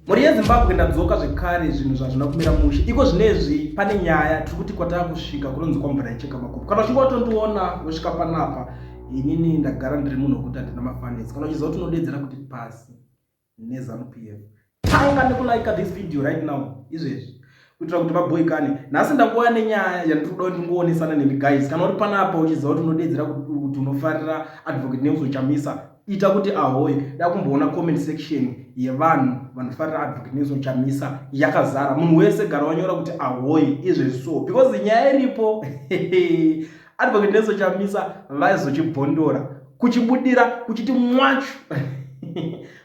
Mhuri yeZimbabwe ndadzoka zvekare zvinhu zvazvina kumira mushe. Iko zvinezvi pane nyaya tiri kuti kwatava kusvika kunonzi kwamvura icheka makupu. Kana uchinge watondiona wosvika panapa inini ndagara ndiri munhu wekuti handina mafanisi. Kana uchiziva kuti unodeedzera kuti pasi neZanu PF. Tanga nekulaika this video right now izvezvi. kuitira kuti vaboikane nhasi ndakuva nenyaya yandiri kuda kuti ndingoonesana nemi guys kana uri panapa uchiziva kuti unodeedzera kuti unofarira advocate nelson chamisa ita kuti ahoye dakumboona comment section yevanhu vanofarira advocate nelson chamisa yakazara munhu wese gara wanyora kuti ahoye izvezvi so because nyaya iripo advocate Nelson Chamisa vaizochibvondora kuchibudira kuchiti mwachu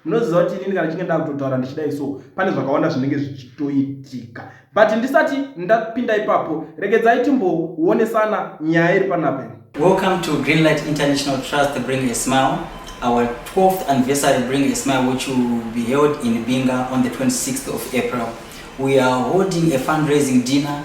munoziva kuti inini kana chinge ndakutotaura ndichidai so pane zvakawanda zvinenge zvichitoitika but ndisati ndapinda ipapo regedzai timboonesana nyaya iri panape welcome to greenlight international trust bring a smile our 12th anniversary bring a smile which will be held in binga on the 26th of april we are holding a fundraising dinner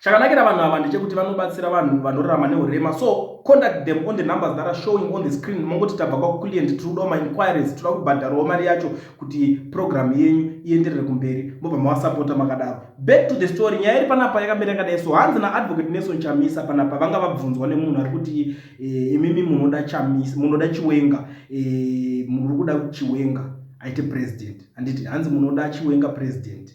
Chakanakira vanhu ava ndechekuti vanobatsira vanhu vanorarama neurema so contact them on the numbers that are showing on the screen mongoti tabva kwakuclient tiri kudawo mainquiries tinoda kubhadharawo mari yacho kuti program yenyu ienderere kumberi mobva mavasapota makadaro back to the story nyaya iri panapa yakamira yakadai so hanzi naadvocate nelson chamisa panapa vanga vabvunzwa nemunhu ari kuti eh, imimi munoda chamisa munoda chiwenga eh, muri kuda chiwenga aite president handiti hanzi munoda chiwenga president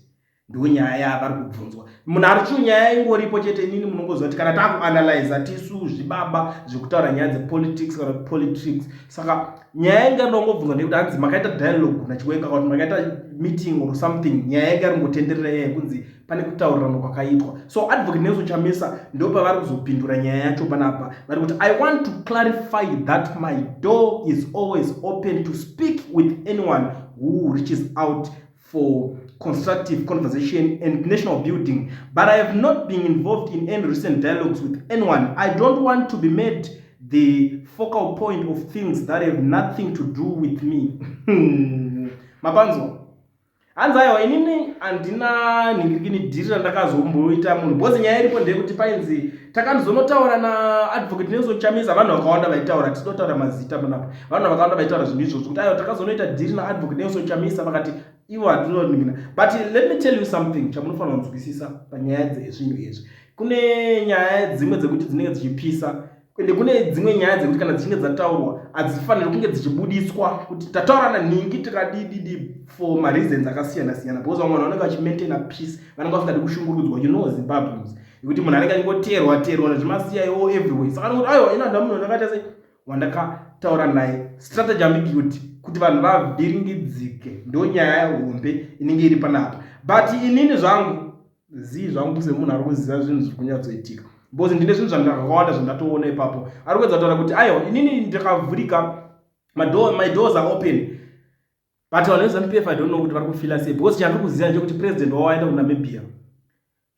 ndiwo nyaya yavari kubvunzwa munhu ari chio nyaya ingoripo chete inini munongoziva kuti kana taakuanalyza tisu zvibaba zvekutaura nyaya dzepolitics kana kuti politics saka nyaya yanga ndongobvunzwa nekuti hanzi makaita dialogue nachiwenga kuti makaita meeting or something nyaya yanga yaringotenderera yaya kunzi pane kutaurirana kwakaitwa so advocate nelson chamisa ndo pavari kuzopindura nyaya yacho panapa vari kuti i want to clarify that my door is always open to speak with anyone who reaches out for constructive conversation and national building but i have not been involved in any recent dialogues with anyone i don't want to be made the focal point of things that have nothing to do with me mapanzwa hanzi aiwa inini handina nhingirikini dhiri randakazomboita munhu bcause nyaya iripo ndeyekuti painzi takanozonotaura naadvocate nelson chamisa vanhu vakawanda vaitaura tisindotaura mazita panapa vanhu vakawanda vaitaura zvinhu izvozvo kuti ayo takazonoita dhiri naadvocate nelson chamisa vakati ivo hatinoningina but let me tell you something chamunofanira kunzwisisa panyaya dzezvinhu izvi kune nyaya dzimwe dzekuti dzinenge dzichipisa ende kune dzimwe nyaya dzekuti kana dzichinge dzataurwa hadzifaniri kunge dzichibudiswa kuti tataurana nhingi tikadididi for mareasons akasiyana siyana because vamwe vanhu vanenge vachimaintaina peace vanenge vasingadi kushungurudzwa you know zimbabweans Ikuti munhu anenge achingoteerwa teerwa nezvimasiya iwo everywhere saka nokuti aiwa ina ndamunhu ndakaita sei wandakataura naye strategy ambiguity kuti vanhu vavhiringidzike ndo nyaya hombe inenge iri panapa but inini zvangu zii zvangu semunhu ari kuziva zvinhu zviri kunyatsoitika because ndine zvinhu zvandakawanda zvandatoona ipapo ari kuedza kutaura kuti aiwa inini ndakavhurika my doors are open but vanhu vezamupf i don't know kuti vari kufila sei because chandiri kuziva ndechekuti president wavo aenda kunamibia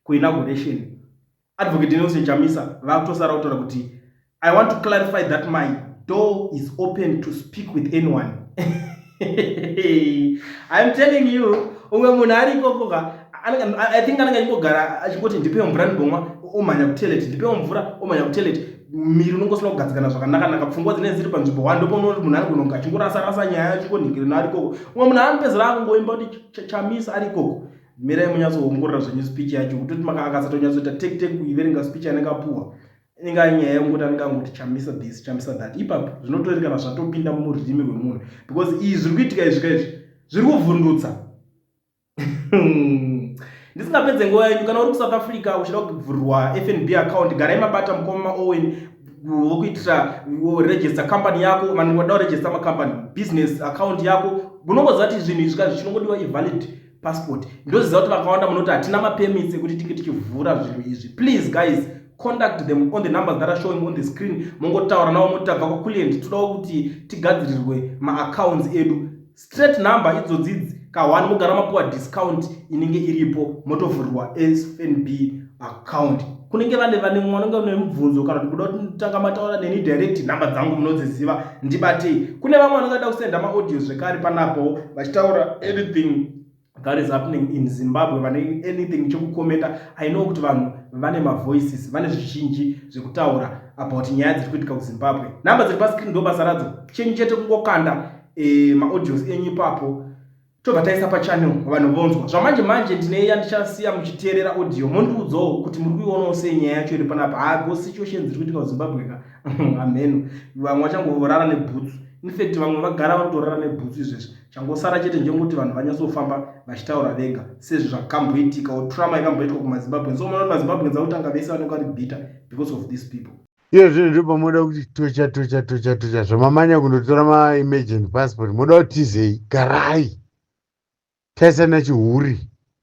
kuinauguration advocate nelson chamisa vakutosara kutaura kuti i want to clarify that my door is open to speak with anyone iam telling you umwe munhu ari ikokoka i think anenge achingogara achingoti ndipe mvura ndibomwa omhanya kutelet ndipe mvura omhanya kutelet miri unongosina kugadzikana zvakanakanaka pfungwa dzinenge dziri panzvimbo wa ndoponooti munhu ari kunonga achingorasa rasa nyaya achingonhingirina ari ikoko umwe munhu anopedzera akungoimba kuti chamisa ari ikoko mirai munyatsoongorora zvenyu speech yacho kutoti makakasatonyatsoita take take kuiverenga speech anenge apuwa inenge anyaya yokuti anenge angoti chamisa this chamisa that ipapo zvinotoerekana zvatopinda mururimi rwemunhu because iyi zviri kuitika izvi ka izvi zviri kuvhundutsa ndisingapedze nguva yenyu kana uri kusouth africa uchida kuvhurwa fnb account garai mabata mukoma maowen vokuitira register company yako vanhu vada kuregister macompany business account yako unongoziva kuti zvinhu izvi ka zvichingodiwa ivalid passport ndoziva kuti vakawanda munoti hatina mapermits ekuti tiki tichivhura zvinhu izvi please guys contact them on the numbers that are showing on the screen mongotaura navo moti tabva kwaculient todawo kuti tigadzirirwe maaccounts edu straight number idzodzidzi kahwani mogara mapiwa discount inenge iripo motovhurirwa sfnb account kunenge vane vane mwanenge une mubvunzo kana kuti kuda kuti nditanga mataura neni direct nhamba dzangu munodziziva ndibatei kune vamwe vanenge da kusenda maaudio zvekare panapo vachitaura anything that is happening in zimbabwe vane anything chekukomenta i know kuti vanhu vane mavoices vane zvizhinji zvekutaura about nyaya dziri kuitika kuzimbabwe nhamba dziri pascreen ndo basa radzo chenyu chete kungokanda e, maaudios enyu ipapo tobva taisa pachannel vanhu vonzwa zvamanje manje ndine yandichasiya muchiteerera audio mondiudzawo kuti muri kuionawo sei nyaya yacho iri panapa hago situations dziri kuitika kuzimbabwe ka amheno vamwe vachangovorara nebhutsu infact vamwe vagara vari kutorara nebhutsu izvezvi changosara chete njengoti vanhu vanyatsofamba vachitaura vega sezvi zvakamboitikawo trama ikamboitwa kumazimbabwens so mona kuti mazimbabwens akutanga vese vanenge vari bitter because of these people Iye zvinhu ndobva moda kuti tocha tocha tocha tocha zvamamanya kundotora maemergent passport moda kutizei garai taisana chihuri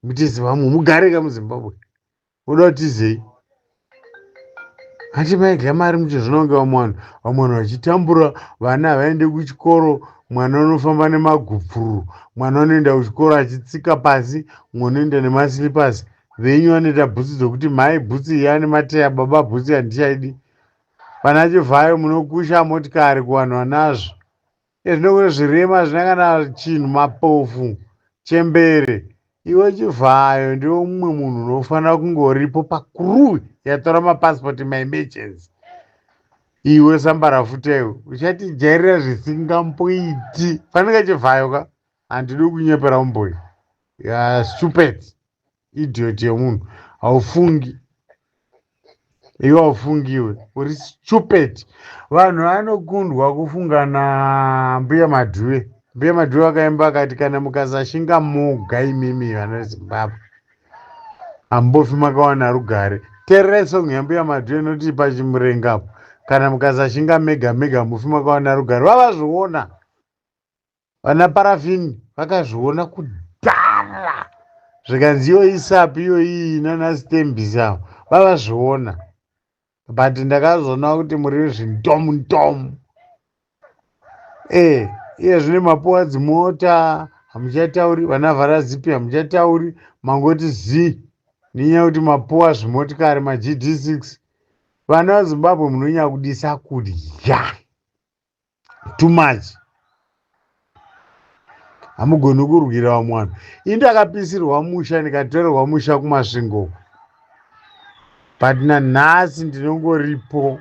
mutisi vamwe mugare ka muzimbabwe moda kutizei hanti maidya mari muchizvinonge vamwe vanhu vamwe vanhu vachitambura vana havaende kuchikoro mwana unofamba nemagupfururu mwana unoenda kuchikoro achitsika pasi mwe unoenda nemaslipers venyu vanoita bhutsu dzokuti mhai bhutsu iyi ane mateya baba bhutsu handichaidi pana chivhayo munokusha motikari kuvanhu vanazvo ezvinokure zvirema hazvina kana chinhu mapofu chembere iwe chivhayo ndiwe mumwe munhu unofanira kunge uripo pakuruwi yatora mapasipoti maemergency iwe sambarafuteyo uchatijairira zvisingamboiti fanike chivhayo ka Handidi kukunyepera homeboy. Yeah, stupid. Idiot yemunhu. Haufungi. Iwe haufungi iwe. Uri stupid. Vanhu vanokundwa kufunga na mbuya Madhuve. Mbuya Madhuve vakaimba akati kana mukasashinga moga imimi vana Zimbabwe. Hambofi makawana rugare. Tererai song yambuya Madhuve inoti pachimurenga apo. Kana mukasashinga mega mega mufi makawana rugare. Vavazviona. Vana Paraffin vakazviona kudhara zvikanzi iyo isapi iyo iyi nana Stembis avo vavazviona but ndakazoona kuti muri zvintomu ntomu eh iye zvine mapuwa dzimota hamuchatauri vana vharazipi hamuchatauri mangoti zii nenyaya yekuti mapuwa zvimotikari magd6 vana vezimbabwe munonyakudisa kudya too much hamugoni kurwira vamwe vanhu ini ndakapisirwa musha ndikatorerwa musha kumasvingo but nanhasi ndinongoripo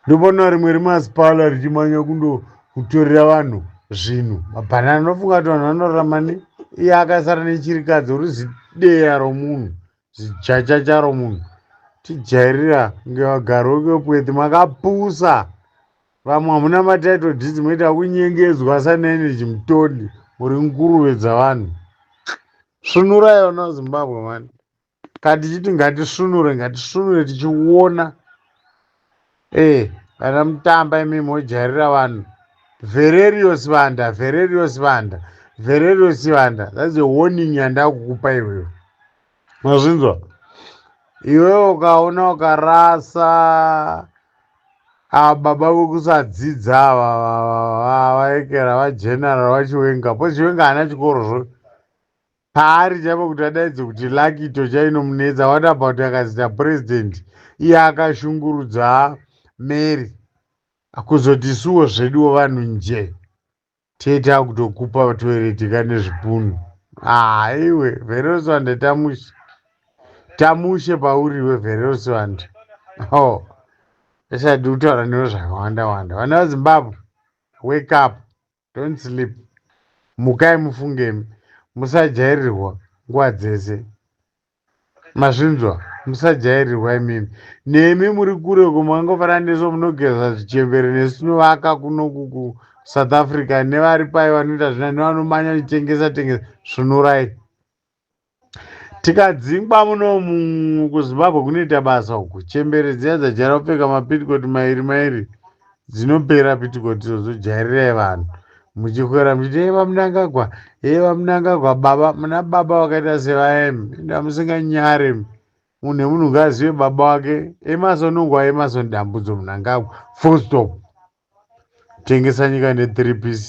ndobona rimwe remasipala richimanya kundo kutorera vanhu zvinhu mabhanana anofunga kuti vanhu vanorarama ne iye akasara nechirikadzi uri zideya romunhu Zijaja charo munhu tijairira kunge vagari vekwekweti makapusa vamwe hamuna matitle deeds moita kunyengedzwa asana energy mutodi muri nguruve dzavanhu svunurai vana vezimbabwe mani katichiti ngatisvunure ngatisvunure tichiona Eh vana mutamba imi mojairira vanhu. Valerio Sibanda, Valerio Sibanda, Valerio Sibanda. That's a warning yandakukupa iwewe. Mazvinzwa? Iwewe ukaona ukarasa ava baba vekusadzidza ava ava- ava- vaekera vageneral vachiwenga po chiwenga haana chikoro zvo paari chaipo kuti adaidze kuti lucky to chainomunetsa what about akazita president iye akashungurudza mary kuzoti suwo zveduwo vanhu nje tete akutokupa toireti ka nezvipunu haiwe ah, veroswande tamushe tamushe pauriwe veroswande o oh. esadi kutaura newe zvakawanda wanda vana vazimbabwe wake up Don't sleep. Mukai mufunge musajairirwa nguva dzese. Mazvinzwa musajairirwa imimi. Nemi muri kure uko mangofana nesu munogeza zvichembere nesu tinovaka kuno kuku South Africa nevari pai vanoita zvina nevanomanya nechengesa tengesa svunurai. Tikadzingwa munomu kuZimbabwe kunoita basa uku. Chembere dziya dzajaira kupfeka mapitikoti mairi mairi dzinopera pitikoti idzodzo jairirai vanhu. Muchikwira muchiti hee vaMnangagwa hee vaMnangagwa baba muna baba vakaita sevaemi ende hamusinganyare munhu nemunhu ngaazive baba wake Emerson nguva Emerson Dambudzo Mnangagwa full stop. Tengesa nyika ne three piece.